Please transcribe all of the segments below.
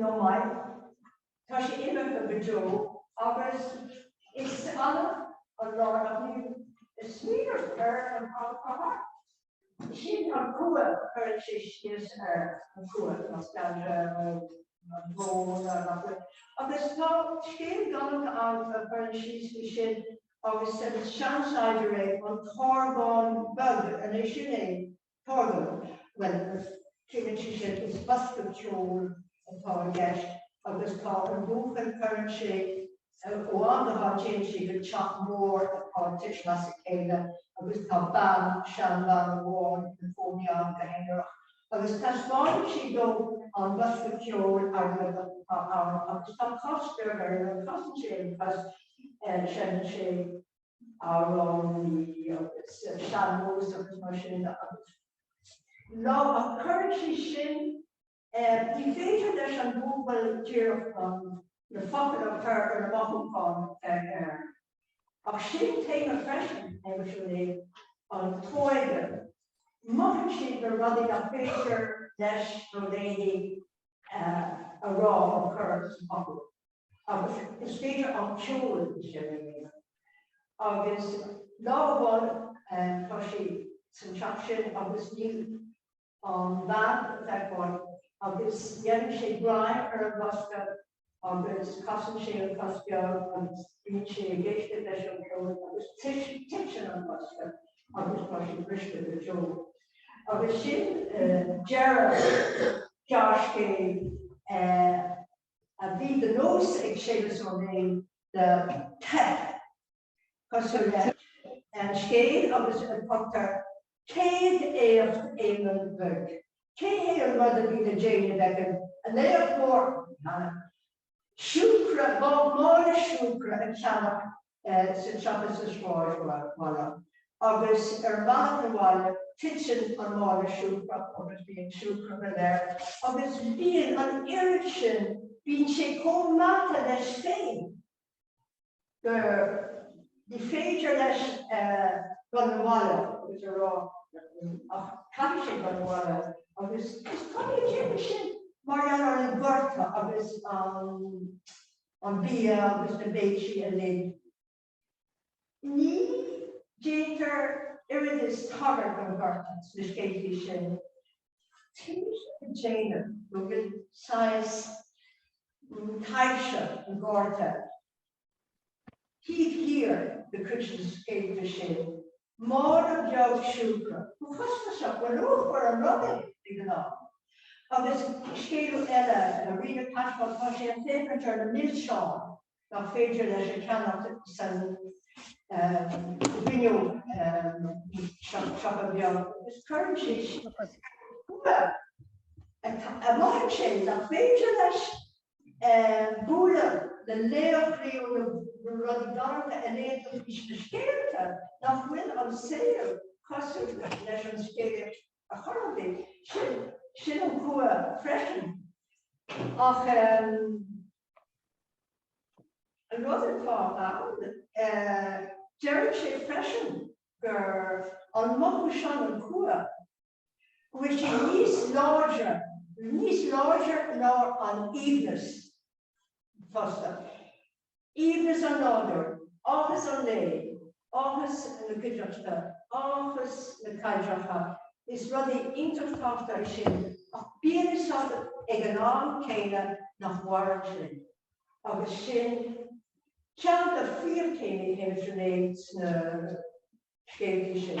Ó maith, tá sé imithe go deo agus is annamh an lá nach mbím ag smaoineamh ar an am atá thart. Sin an cumha, cuireann sé síos air, an cumha, nostalgia nó an brón nach bhfuil. Agus tá scéal galánta ann a chuireann síos faoi sin agus seans láidir é, an tarbhán beag, an é sin é? Torna, Bhuel, sílim sí sin, is bosca ceoil atá i gceist agus tá an buachaill, cuireann sé ó am go ham téann sé go teach mór atá ag titim as a chéile agus tá bean, seanbhean amháin ina cónaí ann go haonarach agus taispeánann sí dó an bosca ceoil airgid atá ann agus tá cos beag air, casann sé an cos, seineann sé. amhráin agus sean-nós agus mar sin de agus nuair a chuireann sí sin ní féidir leis an bpáiste díreach na focail a chur ar na mothúcháin ar air. Ach sin téama freisin ar, sin é an óige. Mothaíonn siad na rudaí nach féidir leis nó léi a rá nó cur i bhfocail. agus is féidir an ceol sin a dhéanamh. Agus lá amháin tá sé san teach sin agus níl an bhean le feiceáil agus déanann sé greim ar an bhosca agus casann sé an chos beag agus bíonn sé ag éisteacht leis an ceol agus titeann an bosca agus tá sé briste go deo. Agus sin deireadh an scéil. a bhí de nós ag Séamus Ó Néill teip cosúil le an scéal ar a dtugtar 'céad éacht Éamonn Bhuirg'. Cad é an rud a bhí le déanamh ag an éacht mór cheana? Siúcra, mála siúcra a cheannach sa teach, sa sráidbhaile agus ar bhealach 'na bhaile titeann an mála siúcra agus bíonn siúcra go léir agus bíonn an oiread sin, bíonn sé chomh meata leis féin go, ní féidir leis dul 'na bhaile agus a rá ach caithfidh sé dul 'na bhaile agus is cuma le déanamh sin mar gheall ar an gorta agus an. an bia agus na béilí uilig. Ní déantar aon tagairt don ghorta sna scéalta sin. Tá mise ag déanamh go bhfuil saghas taibhse an ghorta taobh thiar de chuid de na scéalta sin. Máire Bheag Siúcra. Go costasach, go luachmhar an rud é, de ghnáth. Agus scéal eile, Rí na Casbah, tá sé ag féachaint ar na milseáin nach féidir leis a cheannach sa siopa beag agus cuireann sé síos, Bua! a mhothaigh sé, nach féidir leis bualadh le laochraí ó na rudaí galánta a léann tú fúthu sna scéalta, nach bhfuil an saol cosúil leis an scéal a chuireann tú, sin, sin an cumha freisin. Ach an rud atá ann, deireann sé freisin gur an mothú sin, an cumha, go bhfuil sé níos láidre ná an aoibhneas fosta, aoibhneas an nádúir, áthas an lae, áthas na cuideachta, áthas na bpaidreacha, is rudaí iontach tábhachtacha sin ach bíonn 'fhios agat ag an am céanna nach maireann sé agus sin ceann de phríomhthéamaí Shéamuis Ó Néill sna scéaltaí sin.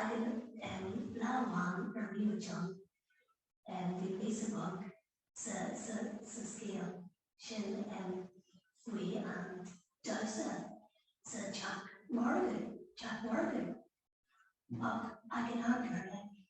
Againn lá amháin a bhí muid ann bhí píosa beag sa scéal sin faoi an damhsa sa teach margaidh, teach margaidh, ach ag an am céanna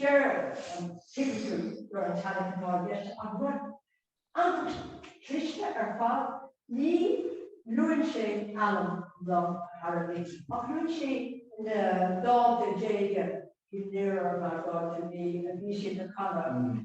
Deir an t-irisleabhar gur an teailí atá i gceist ach rud iontach cliste ar fad, ní luann sé ainm na n-airí ach luann sé na daichidí déanacha i ndeireadh na ndaichidí a bhí siad ag canadh.